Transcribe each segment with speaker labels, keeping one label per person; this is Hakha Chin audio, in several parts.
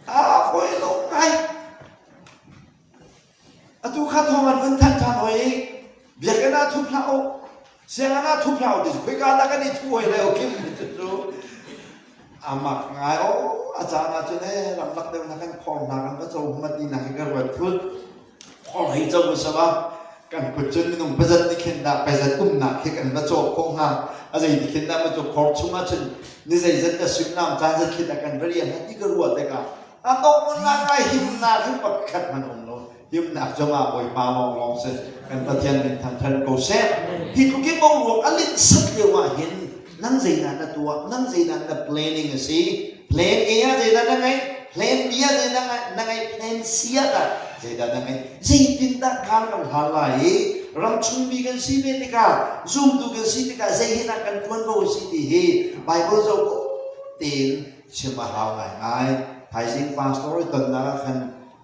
Speaker 1: a hawi lo ngai atu kha thong an vun thanh than hoi biakinn ah thup hlah u sianginn ah thup hlah u dis khoi ka da kan i thu hoi le kim cu amak ngai o a caan ah cun e ramlak deuh na kan khawng hna kan va co hmat ni na ka ruat thut Khawng hei co usam a kan kut cun minung pazat ni khin dah pazat umnak khi kan va cawk ko hnga a zei ni khin dah ma cu khor chungah cun ni zei zat ka suimlam caan zat khi dah kan va rian hati ka ruah te ka a kok mun nak ka himnak hi pakhat hman um lo himnak zongah bawipa wong lawng si kan pathian min thang than ko seh hi tlukin mong ruak a lin sat lio ah hin nang zeinan na tuah nang zeinan na planning a si plan a ah zeidah na ngeih plan b ah zeidah na ngeih plan c ah tah zeidah na ngeih zeitindah kaan kan hlan lai i ramchungmi kan si ve tikah zumtu kan si tikah zei hin ah kan ṭuan ko si ti hi Baibal zoh tein chim a hau ngaingai thaizing pastor i tonnak ah khan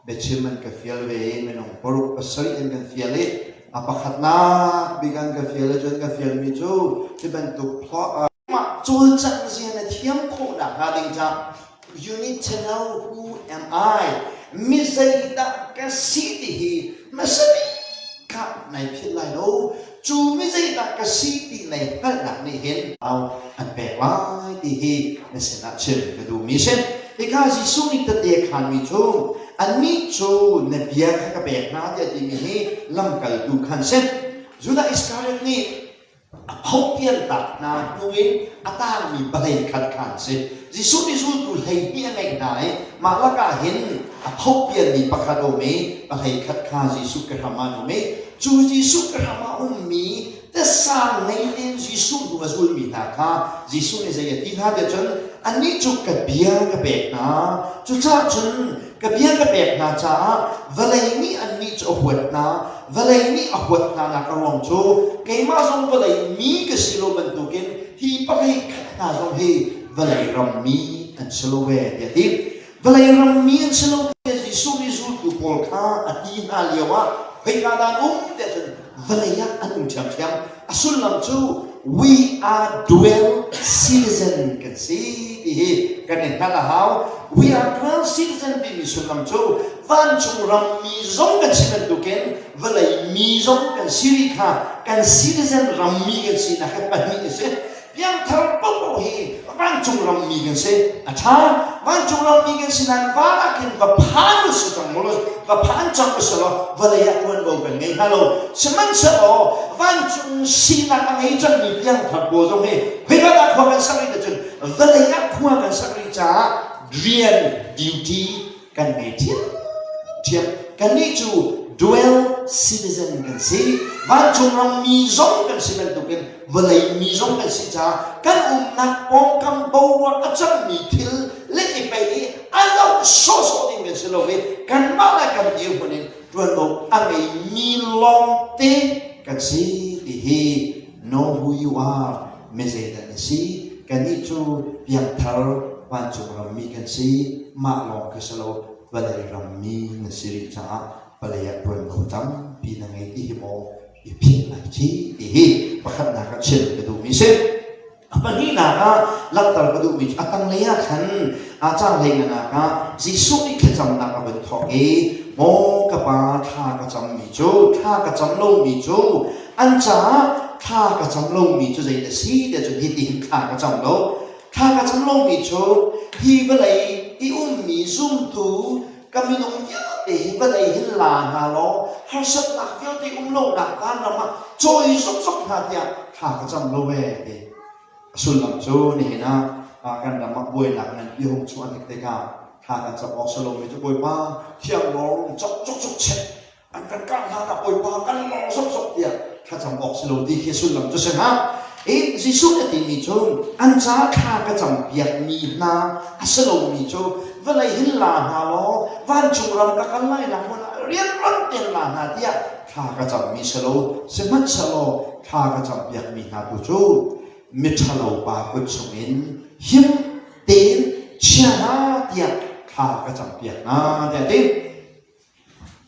Speaker 1: biachim an ka fial ve i minung paruk pasarih an kan fial i a pakhatnak bik an ka fial i cun ka fialmi cu hi bantuk plot Mah cawlcangh rian na thiam khawh nakhnga ding cang. You need to know who am I. Mi zei dah ka si ti hi hmasa bik ah nai philh lai lo. Cu mi zei dah ka si ti nai hngalhnak nih hin an pek lai ti hi na sinah chim ka duhmi si. Hika Jesuh nih tete khanmi cu annih cu na bia kha ka pek hna tiah timi hi lamkaltu khan si. Judah Iskariot nih a phopialnak hna hnu in a tangmi vawlei khat kha an si. Jesuh nih zultu hleihnih a ngeih hna i mah lakah hin a phopialmi pakhat a um i vawlei khat kha Jesuh kehram ah an um i cu Jesuh kehram ah ummi tesang ngei tein Jesuh hnu a zulmi hna kha Jesuh nih zei a ti hna tiah cun annih cu ka bia ka pek hna cucaah cun ka bia ka pek hna caah vawlei nih annih cu a huat hna vawlei nih a huat hnanak a ruang cu keimah zong vawlei mi ka si lo bantukin hi pakhat khat hna zong hi vawlei rammi an si lo ve tiah a ti vawlei rammi an si lo tiah Jesuh nih zultu pawl kha a ti hna lio ah khoika dah an um tiah cun vawlei ah an um ṭhiamṭhiam A sullam cu we are dual citizen kan si ti hi kan in hngalh a hau. We are dual citizen timi sullam cu vancung ram mi zong kan si bantukin vawlei mi zong kan si rih kha kan citizen ram mi kan si nak hi pahnih a si. Piangthar popo hi vancung rammi kan si. A ṭha. Vancung rammi kan si nain van ah khin va phan u si cang mu law, va phan cang u si law, vawlei ah ṭuanvo kan ngei hna lo. Sihmanhsehlaw vancung sinak a ngei cangmi piangthar pawl zong hi hwivat ah khua kan sak rih ahcun vawlei ah khua kan sak rih caah rian, duty, kan ngei ṭhiamṭhiam. Kannih cu dual citizen kan si. Vancung ram mi zong kan si bantukin vawlei mi zong kan si caah kan umnak pawngkam boruak a cangmi thil le i pei i a zoh sawhsawh ding kan si lo i kanmah le kan dirhmun in ṭuanvo a ngeimi lawngte kan si ti hi No who you are, mizeidah na si? Kannih cu piangthar vancung rammi kan si, mah lawng khi si lo, vawlei rammi na si rih caah vawlei ah ṭuanvo tampi na ngei ti hi maw i philh ai thi ti hi pakhatnak ah chim ka duhmi si. A pahnihnak ah langhter ka duhmi cu a tanglei ah khan a caanglei ngannak ah Jesuh nih thlacamnak a vun thawk i maw ka pa thla ka cammi cu thla ka cam lomi cu An caah thla ka cam lomi cu zei na si te cun hitin thla ka cam lo. Thla ka cam lomi cu hi vawlei i ummi zumtu ka minung vialte hi vawlei hin la hna law harsatnak vialte um lonak vanram ah cawi zokzok hna tiah thla ka cam lo e ti. A sullam cu nihin ah kan ram ah buainak ngan i hung chuah tik tikah thla kan cam awk si lomi cu Bawipa thiang lawng cokcok chek an kan kah hlan ah Bawipa kan lawng sawhsawh tiah thlacam awk si lo ti khi sullam cu si hnga. Hi Jesuh a timi cu an caah thla ka cam piakmi hna a si lomi cu vawlei hin la hna law vancung ram ka kal lai la hmun ah rian on ten la hna tiah thla ka cammi si lo sihmanhsehlaw thla ka cam piakmi hna tu cu miṭhalo pa kut chungin him tein chia hna tiah thla ka cam piak hna tiah a ti.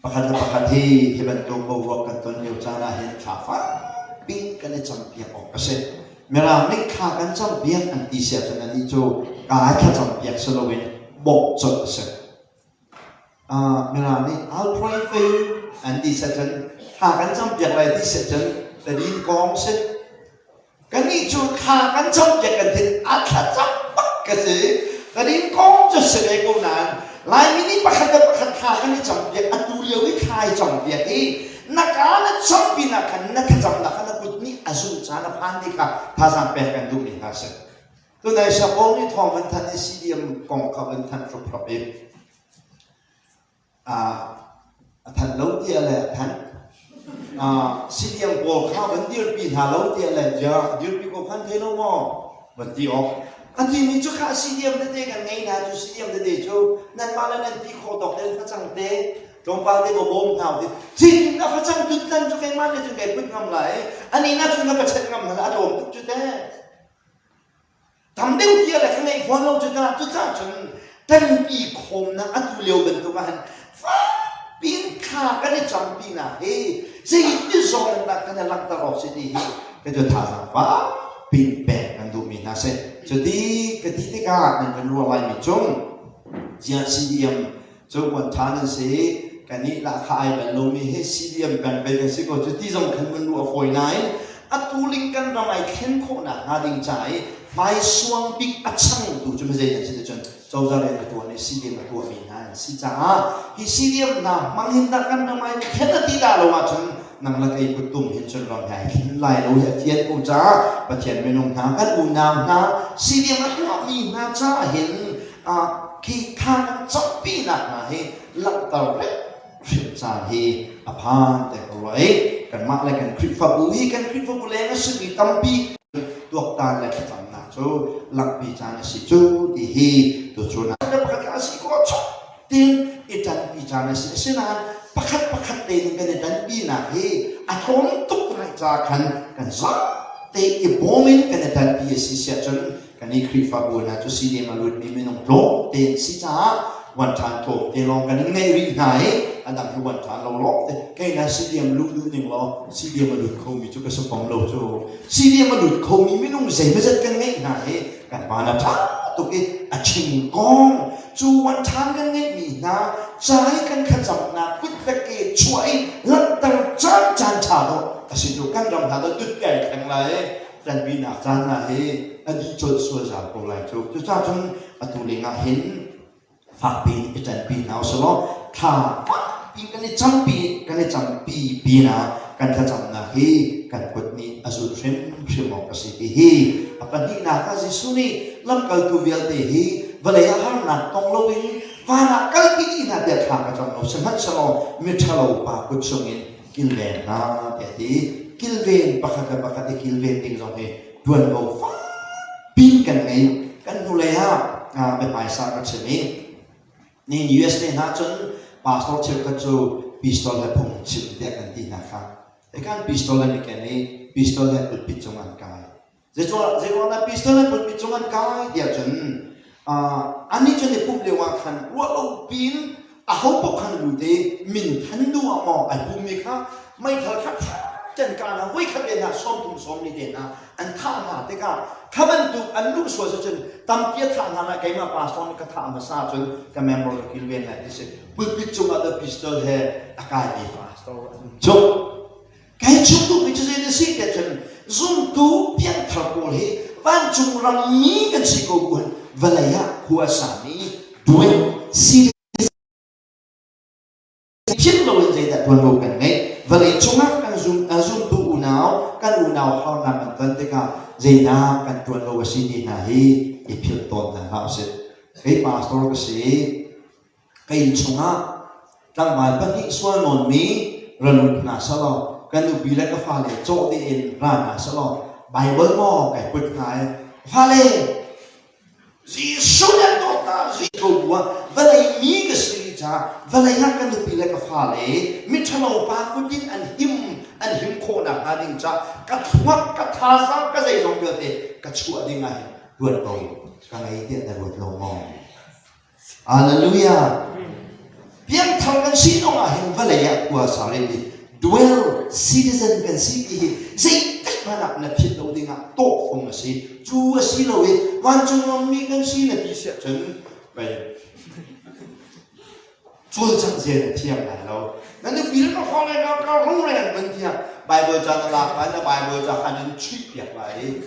Speaker 1: Pakhat le pakhat hi hi bantuk boruak kan ton lio caan ahhin thla fakpi kan i campiak awk a si. Mirang nih thla kan campiak an ti si ahcun anih cu kaa he thlacampiak si loin bawmh colh a si. Uh, Mirang nih I'll pray for you an ti si ahcun thla kan campiak lai ti si ahcun tadin kong a si. Kannih cu thla kan campiak kan thin a thla cang bak ka si. Kan in kawm cu si ve ko nain Laimi nih pakhat le pakhat thla kan i campiak. Atu lio i thla i campiak i na kaa na cham pinah khan na thlacam la kha na kut nih a zumh caan a phan ti kha thazaang pek kan duhmi hna a si. Tunai sapawng i thawng an thanh i CDM kong kha an thanh hruphrup i a thanh lo tiah le a thanh siliang pawl kha van dirpi hna lo tiah le ziah dirpi ko khan thei lo maw van ti awk a timi cu kha siliam tete kan ngei na cu siliam tete cu nanmah le nan ti kho tawk tel facang te tlawmpal te bawm hna te chin na facang tut tan cu keimah le cun kai put ngam lai ani na cu na pachet ngam hal a tlawm tuk cu te Tam deuh tia le ka ngeih fawn lo cucaah cucaah cun tanpi khawmnak atu lio bantuk ahhin fakpi in thla kan i cam pinak hi zeitin zong in dah kan i langhter awk si ti hi ka cu thazaang fakpi in pek kan duhmi hna si. Cu ti ka ti tikah nan kan ruah laimi cung ziah CDM Cakuat ṭha nan si i kanih lahka ai bal lomi hi CDM peng pei kan si ko cu ti zong khan vun ruah fawi nain atu link kan ram ai thlen khawhnak hnga ding ca i hmaisuang bik a changtu cu mi zei nan si cun cozah rian a tuan i CDM a tuahmi hna an si caah hi CDM hna hmang hin dah kan ram ai thlen a ti dah lo ahcun nang le kei kuttum hin cun ram hna i thlen lai lo hi a thian ko caah Pathian minung hna kan unau hna si diam a tuahmi hna caah hin khi thla kan campinak hna hi langhter rep hrim caan hi a phan te ko roi kanmah le kan Khrihfabu hi kan Khrihfabu leng a simi tampi tuaktan le thlacamnak cu langpi caan a si cu ti hi tu cu na pakhat a si ko chok tin i tanpi caan a si asinain pakhat pakhat tein kan i tanpinak hi a tlawm tuk ngai ca khan kan zate i bawm in kan i tanpi a si siah cun kan i Khrihfabu hna cu sihni malutmi minung tlawm tein si caah wan ṭhan tlawm te lawng kan in ngeih rih hna i a dang hi wan ṭhan lo lawng te kei na si diam luhluh ning law si diam a lut khomi cu ka si fam lo cu si diam a lut khomi minung zeimazat kan ngeih hna i kan van a ṭha tuk i a thingkong cuan ṭhan kan ngeihmi hna cai kan thlacamnak kut veke chuah i langhter caan caan ṭha dawh a si cu kan ram hna dawt dut ke ai thleng lai i kan pinak caan hna hi a dih colh sual zau ko lai cu cucacun atu lengah hin fakpi in i telpi hna usulaw thla fakpi kan i campi kan i campi pinah kan thlacamnak hi kan kut nih a zul hrimhrim awk a si ti hi a pahnihnak ah Jesuh nih lamkaltu vialte hi vawlei ah harnak tong loin van ah kalpi dih hna tiah thla ka cam lo sihmanhselaw miṭhalo pa kut chungin kilven hna tiah ti kilven pakhat le pakhat i kilven ding zong hi ṭuanvo fak pin kan ngei. Kan hnulei ah kan hmaisa kan chim i nihin USA hna cun pastor cheukhat cu pistol le phung chim tiah kan ti hna kha. Ekan pistol an i ken i pistol he pulpit cung an kai. Zeiruangah pistol he pulpit cung an kai tiah cun Anih cu te pumh lio ah khan ruah lo piin aho paoh khan lut i min than duh ah maw ai pummi kha meithal kha ten kana voi khat te hna sawm thum sawm ni te hna an thah hna tikah kha bantuk an luh sual cu cun tampi a thah hna lai keimah pastor nih ka thah hmasa cun ka member ka kilven lai ti si pulpit cungah the pistol he a kai mi pastor an um cuh Ka i chim duhmi cu zeidah a si ti ahcun zumtu pianthar pawl hi vancung rammi kan si ko bu in vawlei ah khua a sami duai serious him loin zeidah tuanvo kan ngeih vawlei cungah kan zum, uh, zumtu unau kan unau harnak kan ton tikah zeidah kan tuan lo a si ti hna hi i philh tawn hna hlah usih. Kei pastor ka si, ka inn chungah tlangval pahnih sual nawnmi ra lut hna selaw kan nupi le ka fale cawh tein ra hna selaw Bible maw kai put hna i fale Jesuh nih dawt hna Jesuh bu ah vawlei mi ka si rih caah vawlei ah ka nupi le ka fale miṭhalo pa kut in an him an him khawh nakhnga ding caah ka thluak ka thazaang ka zeizong vialte ka chuah ding ah hin ṭuan ko ka ngei tiah na ruat lo maw? Hallelujah! Piangthar kan sinak ahhin vawlei ah khua sang in dual citizen kan si ti hi zeitik hmanah na philh lo dingah tawhfung a si. Cu a si lo i vancung ammi kan si na ti siah cun, cawlcangh zen a thiang lai lo na nupi le ka khong ka ka ru le an van tiang bible ca na lak lai na bible ca han in chuih piak lai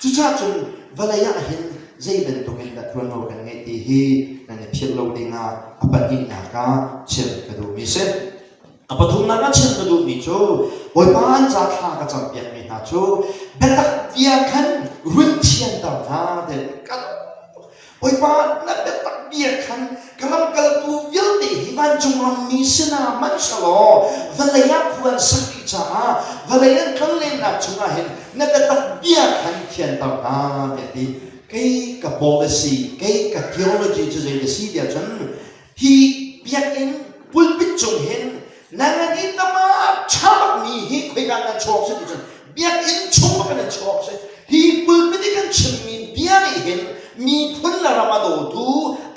Speaker 1: cucacun vawlei ah hin zei bantuk in na tuanlo kan ngeih ti hi nan i philh lo ding ah a pahnihnak ah chim ka duhmi si a pathumnak ah chim ka duhmi cu bawipa an ca thla ka cam piakmi hna cu biatak bia khan run thianter hna te ka Bawipa na biatak bia khan ka lamkaltu vialte hi vancung rammi sinah hmanhselaw vawlei ah khua an sak dih caah vawlei an kal lennak chungah hin na biatak bia khan thianter hna tiah ti kei ka policy kei ka theology cu zei na si tiah cun hi biakinn pulpit cung hin nangan i tama ṭha bakmi hi khoika kan chuak si ticun biakinn chung bak nan chuak si hi pulpit i kan chimmi bia nih hin miphun le ram a dawtu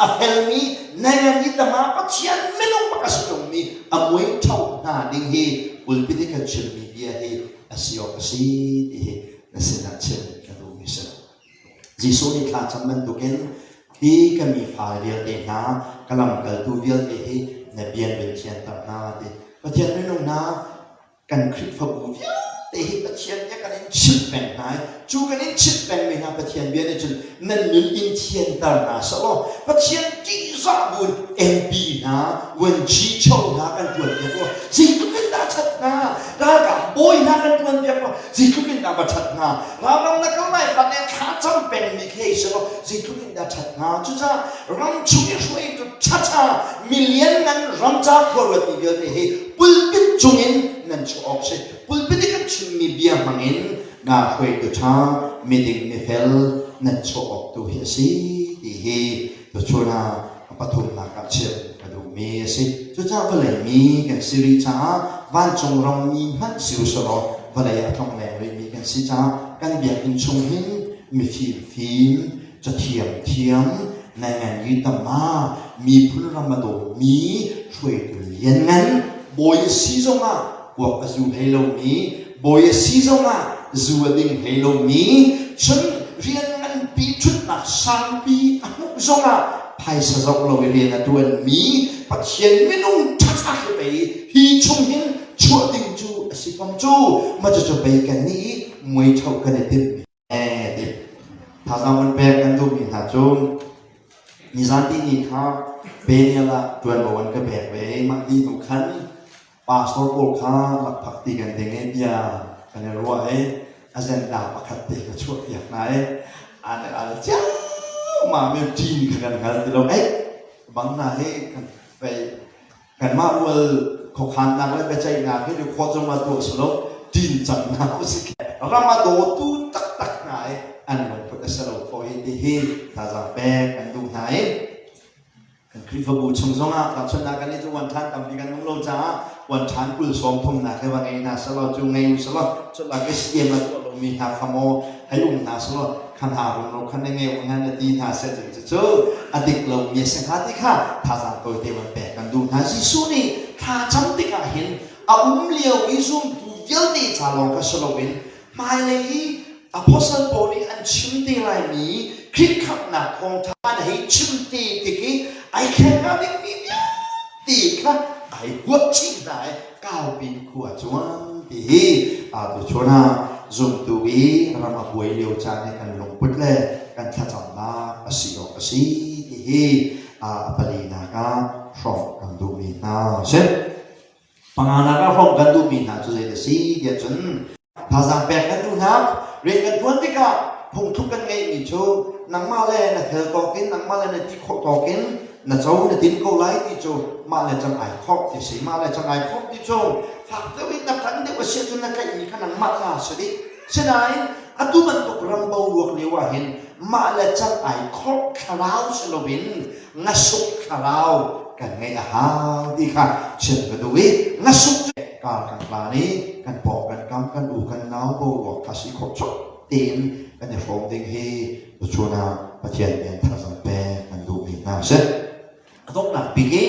Speaker 1: a felmi nangan i tama pathian minung bak a si ṭungmi a muingtho hna ding hi pulpit i kan chimmi bia hi a si awk a si ti hi na sinah chim ka duhmi si lo Jesuh nih thlacam bantukin hi ka mi fale vialte hna, ka lamkaltu vialte hi na bian vun thianter hna a ti. Pathian minung hna, kan Khrihfabu vialte hi Pathian bia kan in chimh peng hna i cu kan in chimh pengmi hna Pathian bia nih cun nan min in thianter hna seh law Pathian ṭihzah buin MP hna, vuanci cho hna kan ṭuanpiak law zeitluk in dah ṭhat hna, ralkap bawi hna kan ṭuanpiak law zeitluk in dah va ṭhat hna ram ram na kal lai fak in thla cam pengmi khi ei selaw zeitluk in dah ṭhat hnga cucaah ram chung i hruaitu ṭhaṭha milian ngan ram ca khuaruati vialte hi pulpit cung in nan chuah awk si pulpit i kan chimmi bia hmang in naa hruaitu ṭha miding mifel nan chuah awk tu hi a si ti hi Nachuahnak a pathumnak ah chiah in ka duhmi a si. Cucaah vawlei mi kan si rih caah vancung rammi hmanh si u selaw vawlei ah a tlongleng rihmi kan si caah kan biakinn chung hin mifimfim, cathiamthiam, naingan yi tama, miphun ram a dawmi hruaitu lianngan, bawi a si zongah puak a zu hlei lomi bawi a si zongah zu a ding hlei lomi cun rian nganpi ṭhutnak sanpi a hmuh zongah phaisa zoh lo i rian a ṭuanmi Pathian minung ṭhaṭhai pei hi chung hin chuah ding cu a si fam cu macucu pei kan nih i muaiṭho kan i timmi Thazaang vun pek an duhmi hna cu nizanti ni kha Peniel ah ṭuanvo an ka pek ve i mah ni hnu khan pastor pawl kha lakphak ti kan ding i bia kan i ruah i a zenda pakhat te ka chuahpiak hna i aan i al ciammam i ṭin kha kan hngal ti lo. Ei, bang hna hi kan pei Kanmah rual khuakhannak le biaceihnak hi khua cungah tuah si lo ṭin cangnak usih ram a dawtu taktak hna i an lungput a si lo ko hi tihi thazaang pek kan duh hna i kan Khrihfabu chung zongah tahchunhnak kan nih cu wan ṭhan tampi kan nung lo caah wan ṭhan kul sawm thumnak he va ngei hna selaw cu ngei u selaw culak i CM a tuah lomi hna kha maw hei um hna selaw khan aa rul lo khan na ngeu hna na ti hna seh tiin cucu a dik lomi a si hnga ti kha thazaang tawite van pek kan duh hna Jesuh nih thla cam tikah hin a um lio i zumtu vialte ca lawng kha si loin hmailei i apostle paul nih an chim te laimi khirhkhanghnak thawngṭha na hei chim te tik i ai thleng hnga dingmi vialte kha ai guah chih hna i Kaupin khua cuang ti hi atu chun ah zumtu i ram a buai lio caan i kan lungput le kan thlacamnak a si awk a si ti hi a palinak ah hrawmh kan duhmi hna a si. Panganak ah hrawmh kan duhmi hna cu zeidah a si tiah cun Thazaang pek kan duh hna. Rian kan ṭuan tikah phungthluk kan ngeihmi cu nangmah le na fel tawkin nangmah le na ti khawh tawkin na co na din ko lai ti cu mah le cang ai khawh ti si. Mah le cang ai khawh ti cu fak deuh in na ṭanh deuh a si ahcun na tlaihmi kha nangmah ta a si dih. Sinain atu bantuk ram boruak lio ah hin mah le cang ai khawh thlarau si loin ngasuk thlarau kan ngeih a hau ti kha chiat ka duh i ngasuk cu kar kan hlan i kan pawng kan kam kan u kan nau boruak kha si khawh chuak tiin kan i hrawm ding hi tuchun ah Pathian nih an tharzang pek kan duhmi hna si a donghnak bik i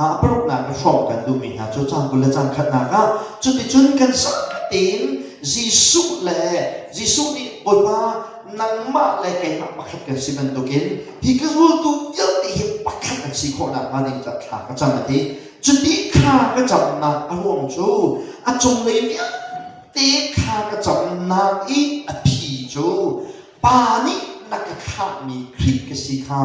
Speaker 1: a paruknak na hrawm kan duhmi hna cu caan kul le caan khatnak ah cuticun kan sa tein Jesuh le Jesuh nih Bawipa nangmah le keimah pakhat kan si bantukin hi ka zultu vialte hi pakhat an si khawh nakhnga ning ca thla ka cam a ti cuti kha ka camnak a ruang cu a cunglei vialte kha ka camnak i a phi cu pa nih na ka khamhmi Khrih ka si kha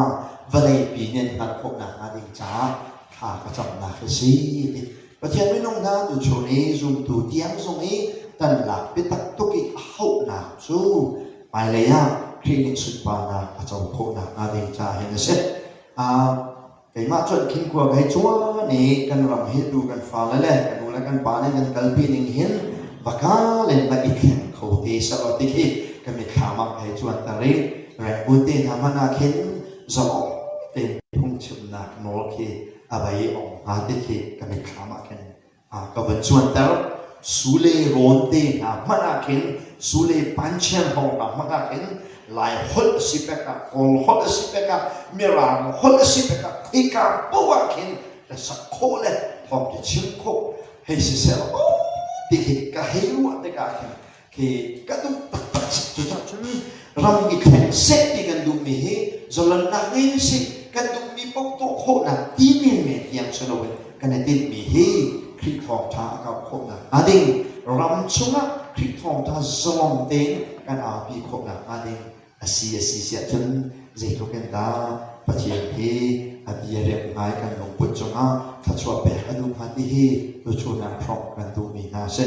Speaker 1: vawleipi nih an hngalh khawh nakhnga ding caah thla ka camnak hi si a ti Pathian minung hna tu chung i zumtu tiang zong i kan lak biatak tuk i a hauhnak cu hmailei ah Khrih nih sunparnak a co khawhnak hnga ding ca hin a si. Um, keimah cu an khinkua ka hei cuan i kan ram hi tu kan fale le kan u le kan pa nih nan kalpi ning hin va kal in va i thleng kho te selaw ti khi ka mitthlam ah ka hei cuanter i rengbulte hna hmanh ah khin zong tein phungchimnak nawl khi a vei a um hnga ti khi ka mitthlam ah khin ka van cuanter sule rawn te hna hmanh ah khin sule panchen ho hna hmanh ah khin lai holh si pek ah kawl holh si pek ah mirang holh si pek ah khika poah khin ka sak khawh le thawm ki chim khawh hei si sel ho ti khi ka hei ruah tikah khin khi ka duh taktak cucun ram i khen sek ti kan duhmi hi zolannak ngei u si kan duhmi paoh tuah khawhnak ti menmen tiang si loin kan i tinhmi hi Khrih thawngtha a kau khawhnak hnga ding ram chungah Khrih thawngtha zawm tein kan arpi khawhnak hnga ding asi asi siah cun zeitluk in dah Pathian hi a bia rem ngai kan lungput cungah thluachuah pek a duh hnga ti hi tuchunang hrawk kan duhmi hna si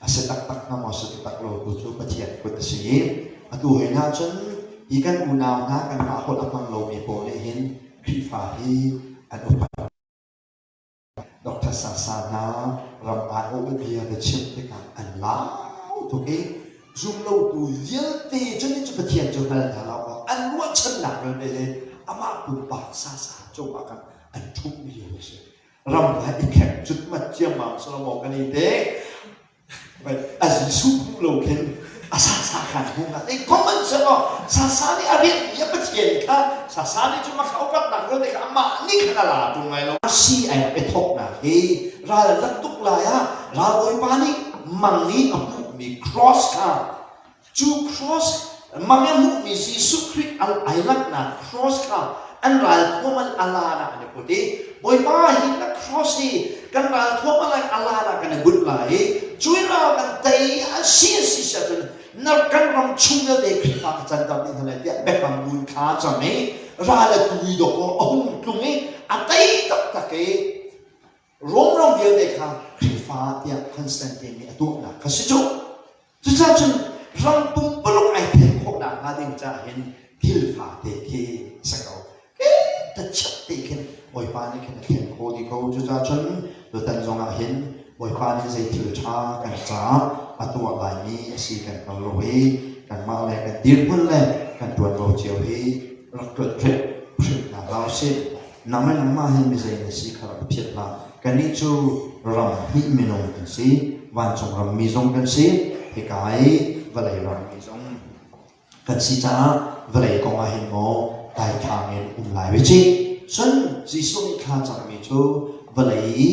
Speaker 1: A si taktak hnga maw, si taktak lo tu cu Pathian kut a si i atu heinah cun hi kan unau hna kanmah holh a hmang lomi pawl nih hin Khrihfa hi an upat. Dr. Sasa hna ram aiawh bia ka chim tikah an lau tuk i zumlotu vialte cu ni cu Pathian cu hngal hna lo kaw an ruahchannak vialte le amah pumpak Sasa cungah khan an ṭhumh lio a si. ram hna i thlek cutmat ciammam sawh lo maw kan i te a Jesuh hmuh lo khin a sasa khan hung ah ei common se law sasa nih a rianhmi a Pathian kha sasa nih cun a kha upatnak vialte kha amah nih khan a la ṭung lai lo si ai i thawknak hi ralzat tuk lai ah ralbawipa nih mang i a hmuhmi cross kha Cu cross, mah i hmuhmi Jesuh Khrih an ai langhnak cross kha an ralthuam an a lan ah an i put i Bawipa hi na cross hi kan ralthuam a lan a lan ah kan i bunh lai i cu i ral kan tei an si an si si ahcun na kan ram chung vialte Khrihfa ka canter ding hna lai tiah biafang buin thla a cam i ral a tui dawk a hung tlung i a tei taktak i Rom ram vialte kha Khrihfa tiah Constantine nih a tuahnak kha si cuh. Cucaah cun ram pumpaluk ai thek khawhnak hnga ding caah hin thil fate khi a si ko. Ta chiat te khin Bawipa nih khin a thek kho ti ko. Cucaah cun tutan zongah hin Bawipa nih zei thil ṭha kan caah a tuah laimi a si kan hngal lo hi kanmah le kan dirhmun le kan ṭuanvo cio hi rak ṭuan hrimhna hlah usih. Nang le nangmah hi mizei na si kha rak ka phiat hlah. Kannih cu ram hnih minung kan si. Vancung rammi zong kan si. Hika i vawlei rammi zong kan si caah vawlei kongah hin maw daithlang in um lai ve cih. Cun Jesuh nih thla cangmi cu vawlei i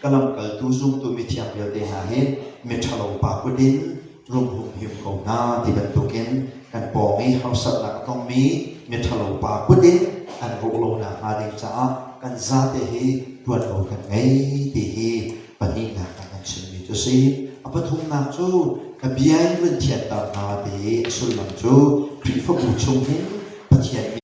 Speaker 1: ka lamkaltu zumtu mithiang vialte hna hi miṭhalo pa kut in rumhum him ko hna ti bantukin kan pawng i harsatnak a tongmi miṭhalo pa kut in an rawh lo nakhnga ding caah kan zate hi ṭuanvo kan ngei ti hi pahnihnak ah kan chimmi cu si. A pathumnak cu ka bia in vun thianter hna ti a sullam cu Khrihfabu chung hin Pathian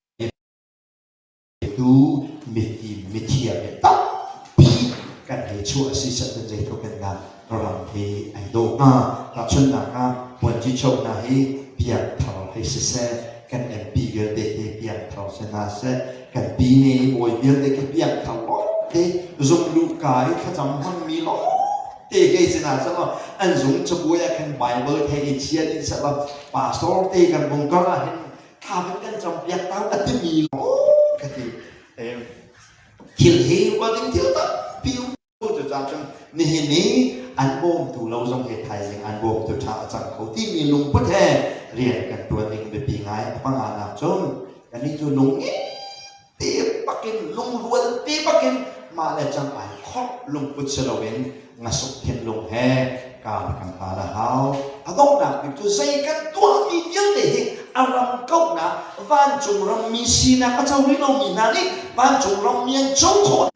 Speaker 1: Mitu, mitim, mithiam hi tampi kan hei chuah a si sehman zeitluk in dah ram hi ai do hnga. Tahchunnak ah, Puanci Cho hna hi piangthar hei siseh, kan MP vialte hi piangthar si hna seh, kan pi ne bawi vialte khi piangthar lawngte, zumluka i thlacam hmangmi lawngte hei si hna selaw, an zung cabuai ah khan Bible thei in chiat in selaw, pastor te kan bung kar ah hin thla kan kan cawngpiak ta a timi lawng ka ti thil hi upat ding thil tampi cu caan cun nihin ni an bawmtu lo zong he thaizing an bawmtu tha a cang kho timi lungput he rian kan tuan ding biapi ngai a panganak cun kan ni cu lung ngei pek bakin lungrual te bakin mah le cang ai khop lungput si loin ngasuk thinlung he kan kan hal a hau a donghnak bik cu zei kan tuah mi vialte hi a ram kauhnak vancung rammi sinak a co rih lomi hna nih vancung rammi an co khawh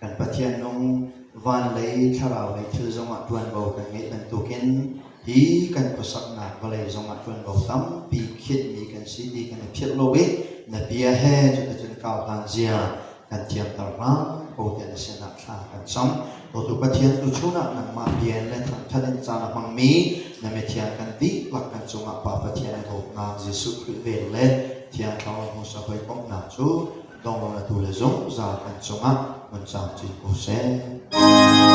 Speaker 1: Kan Pathian nung van lei thlarau lei thil zongah ṭuanvo kan ngeih bantukin hi kan khuasaknak vawlei zongah ṭuanvo tampi khiatmi kan si ti kan i philh lo i na bia he cuticun kau hlan zia kan thiamter hram ko tiah na sinah thla kan cam. Dawtu Pathian tu chungah nangmah bia in le thangṭhat in caan a hmangmi na mithiang kan dihlak kan cungah Pa Pathian i dawtnak Jesuh Khrih vel le Thiang Thlarau hmusa hawikomhnak cu Tawnghratu le zungzal an cungah vun cam chin ko seh.